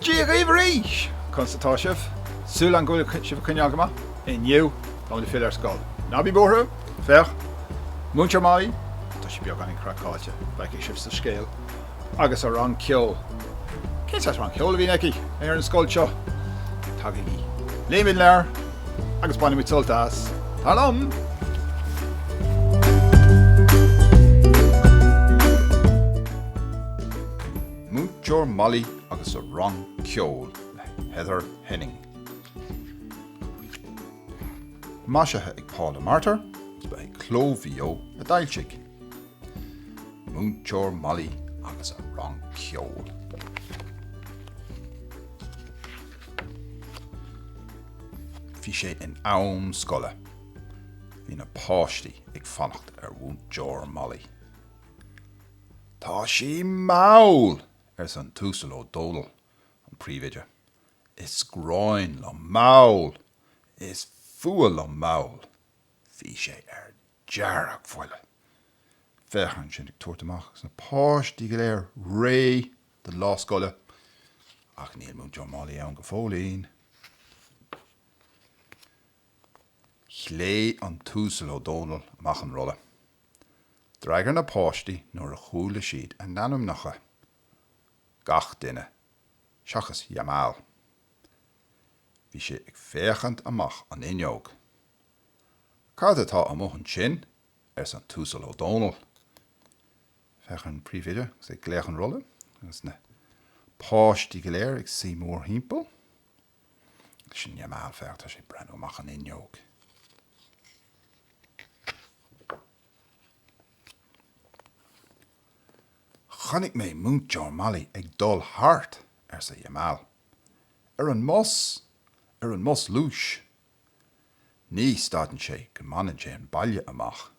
Dia dhaoibh arís! Conas atá sibh? Súil agam go bhfuil sibh ag coinneáil go maith. Inniu, táimid ag filleadh ar scoil. Ná bí buartha, féach, Múinteoir Molly, tá sí beagáinín craiceáilte, feicfidh sibh sa scéal. agus a rang ceoil. Cén saghas rang ceoil a bhíonn aici ar an scoil seo? Tagaigí. Léimis leabhar agus bainimis sult as. Tar liom! Múinteoir Molly agus a rang ceoil le Heather Henning. Maisithe ag Paula Martyr, is ba é Cló Mhaigh Eo a d'fhoilsigh. Múinteoir Molly agus a rang ceoil. Bhí sé in am scoile. Bhí na páistí ag fanacht ar Mhúinteoir Molly. Tá sí mall! arsa an tUasal Ó Dónaill, an príomhoide. Is gráin liom mall! Is fuath liom mall! Bhí sé ar deargbhuile. Féach air ansin ag tabhairt amach agus na páistí go léir réidh don lá scoile, ach níl Múinteoir Molly ann go fóillín. Ghlaoigh an tUasal Ó Dónaill amach an rolla. D'fhreagair na páistí nuair a chuala siad a n-ainmneacha. Gach duine, seachas Jamal. Bhí sé ag féachaint amach an fhuinneog. Cad atá amuigh ansin? arsa an tUasal Ó Dónaill. Féach ar an bpríomhoide agus é ag glaoch an rolla, agus na páistí go léir ag suí mórthimpeall. Sin Jamal, féach, tá sé ag breathnú amach an fhuinneog. Chonaic mé Múinteoir Molly ag dul thart, arsa Jamal. Ar an mbus, ar an mbus luais, Ní stadann sé go mbaineann sé an baile amach.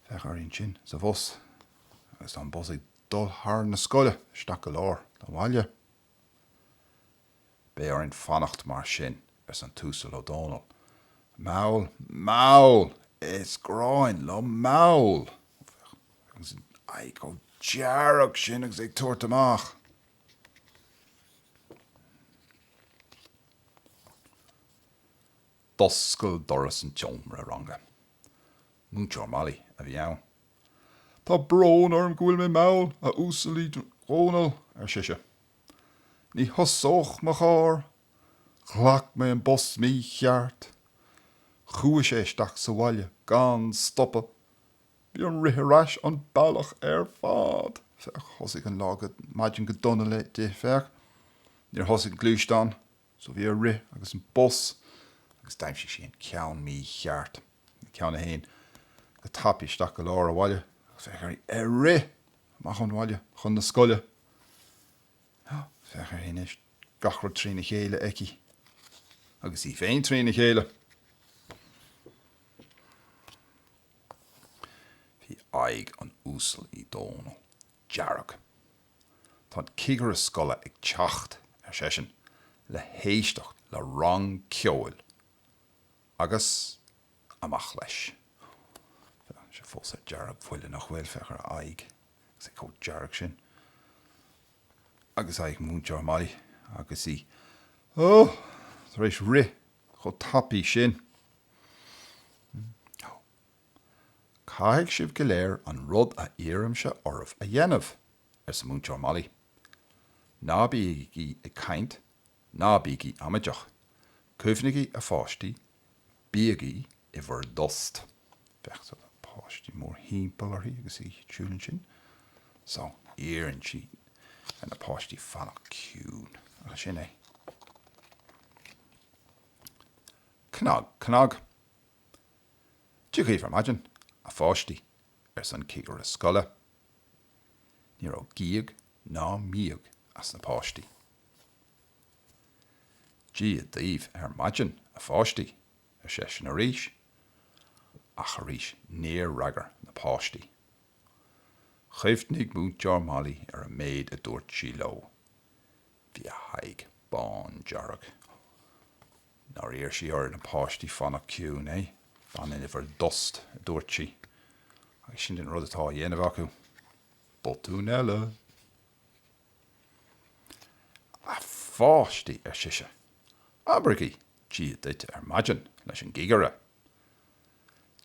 Féach uirthi ansin sa bhus agus tá an bus ag dul thar na scoile isteach go lár an bhaile. Beidh orainn fanacht mar sin, arsa an tUasal Ó Dónaill. Mall, mall! Is gráin liom mall! Féach an aghaidh chomh dearg sin agus é ag tabhairt amach. D'oscail doras an tseomra ranga. Múinteoir Molly a bhí ann. Tá brón orm go bhfuil mé mall, a Uasail Uí Dhónaill, ar sise. Ní thosódh mo charr. Ghlac mé an bus mícheart. Chuaigh sé isteach sa bhaile gan stopadh. Bhí orm rith ar ais an bealach ar fad. Féach, thosaigh an lá go, maidin go dona léi, di, féach, níor thosaigh an gluaisteán, so bhí air rith chuig an bus agus d'aimsigh sí an ceann mícheart, an ceann a théann go tapaidh isteach go lár an bhaile, bhí air rith amach ón bhaile chun na scoile. Á, féach uirthi anois, gach rud trína chéile aici. Agus í féin trína chéile. Bhí aghaidh an Uasail Uí Dhomhnaill dearg. Tá an cigire scoile ag teacht, ar seisean, le héisteacht le rang ceoil agus amach leis. Tá sé fós ar deargbhuile, nach bhfuil, féach ar a aghaidh agus é chomh dearg sin. Agus aghaidh Mhúinteoir Molly agus í, ó! tar éis rith chomh tapaidh sin. Ó, caithfidh sibh go léir an rud a iarraimse oraibh a dhéanamh, arsa Múinteoir Molly. Ná bígí ag caint, ná bígí amaideach. Cuimhnigí, a pháistí, bígí i bhur dtost. Féach ar na páistí mórthimpeall uirthi agus í ag siúl ansin. So, iarrann sí ar na páistí fanacht ciúin. Agus sin é. Cnag, cnag. Dia dhaoibh ar maidin, a pháistí, arsa an cigire scoile. Ní raibh gíog ná míog as na páistí. Dia dhaoibh ar maidin, a pháistí, ar seisean arís, ach arís níor fhreagair na páistí. Chuimhnigh Múinteoir Molly ar an méid a dúirt sí leo. Bhí a haghaidh bándearg. Nár iarr sí ar na páistí fanacht ciúin, eh? Fanaigí in bhur dtost, a dúirt sí, agus sin an rud atá á dhéanamh acu. Botún eile! A pháistí, ar sise, abraigí Dia duit ar maidin leis an gcigire.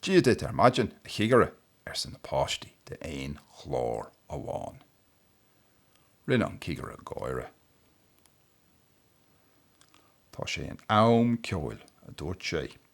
Dia duit ar maidin, a chigire, arsa na páistí d'aon ghlór amháin. Rinne an cigire gáire. Tá sé in am ceol, a dúirt sé.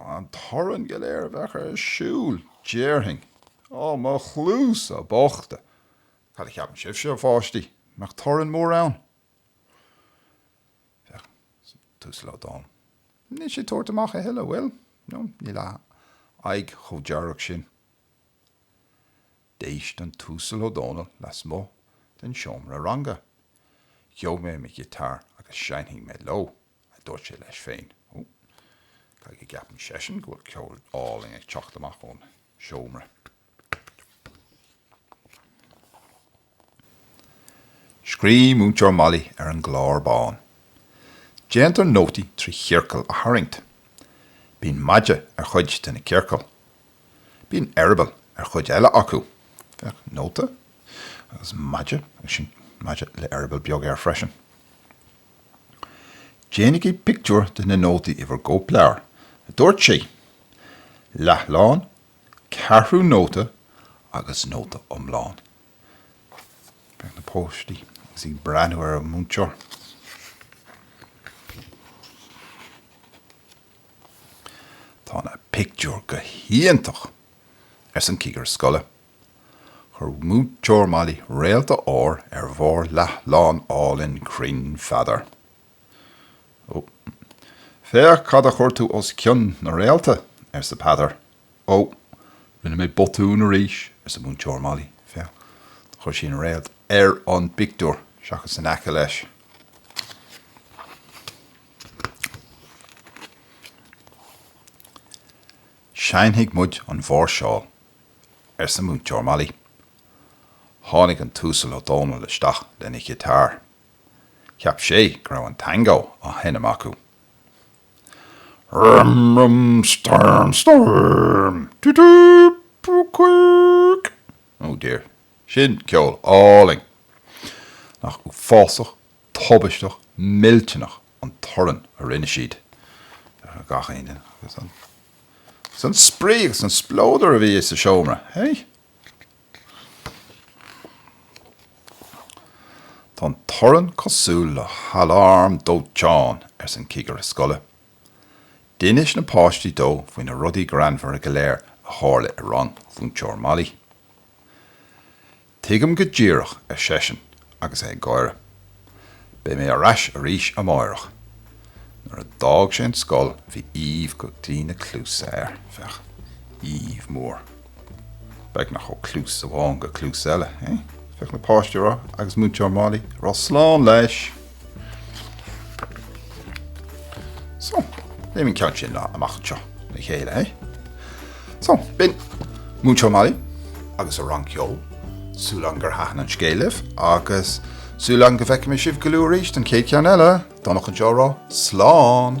An torann go léir a bheadh ar siúl, déarfainn, Ó, mo chluasa bochta! Cad a cheapann sibhse, a pháistí, an mbeadh torann mór ann? Bheadh. An tUasal Ó Dónaill, níl sé ag tabhairt amach a thuilleadh, an bhfuil? No, níl a aghaidh chomh dearg sin. D'éist an tUasal Ó Dónaill lasmuigh den seomra ranga. Gheobhaidh mé mo ghiotár agus seinnfidh mé leo. a dúirt sé leis féin. Ó, caithfidh go gceapann seisean go bhfuil ceol álainn ag teacht amach ón seomra. Scríobh Múinteoir Molly ar an gclár bán. Déantar nótaí trí chiorcail a tharraingt. Bíonn maide ar chuid de na ciorcail. Bíonn eireaball ar chuid eile acu. Féach, nóta, agus maide, agus sin maide le eireaball beag air freisin. Déanaigí pictiúr de na nótaí i bhur gcóipleabhair, a dúirt sí. Leathlán, ceathrú nóta agus nóta iomlán. Féach na páistí agus iad ag breathnú ar an múinteoir. Tá na pictiúir go hiontach! arsa an cigire scoile. Chuir Múinteoir Molly réalta óir ar bharr leathlán álainn cruinn Pheadair. Ó, féach cad a chuir tú os cionn na réalta! arsa Peadar. Ó, rinne mé botún arís, arsa Múinteoir Molly. Féach, chuir sí an réalt ar an bpictiúr seachas in aice leis. Seinnfidh muid an mháirseáil. arsa Múinteoir Molly. Tháinig an tUasal Ó Dónaill isteach lena ghiotár. Cheap sé go raibh an tango á sheinm acu. Rum rum storm storm tu tu pu cuic. Oh dear, sin ceol álainn! Nach uafásach, tubaisteach, millteanach an torann a rinne siad, gach aon duine. Is an spraoi agus an spleodar a bhí sa seomra, hey? Tá an torann cosúil le haláram dóiteáin, arsa an cigire scoile. D'inis na páistí dó faoi na rudaí greannmhara go léir a tharla i rang Mhúinteoir Molly. Tuigim go díreach, ar seisean agus é ag gáire. Beidh mé ar ais arís amáireach. Nuair a d'fhág sé an scoil bhí aoibh go dtí na cluasa air. Féach. Aoibh mhór. Beagnach ó chluas amháin go cluas eile, eh? Féach na páistí ag rá, agus Múinteoir Molly ag rá slán leis! So, léim an ceann sin amach anseo le chéile, eh? So, b'in Múinteoir Molly agus a rang ceoil. Súil agam gur thaitin an scéal libh agus súil agam go bhfeicfidh mé sibh go luath arís don chéad cheann eile. Donncha anseo a rá, Slán!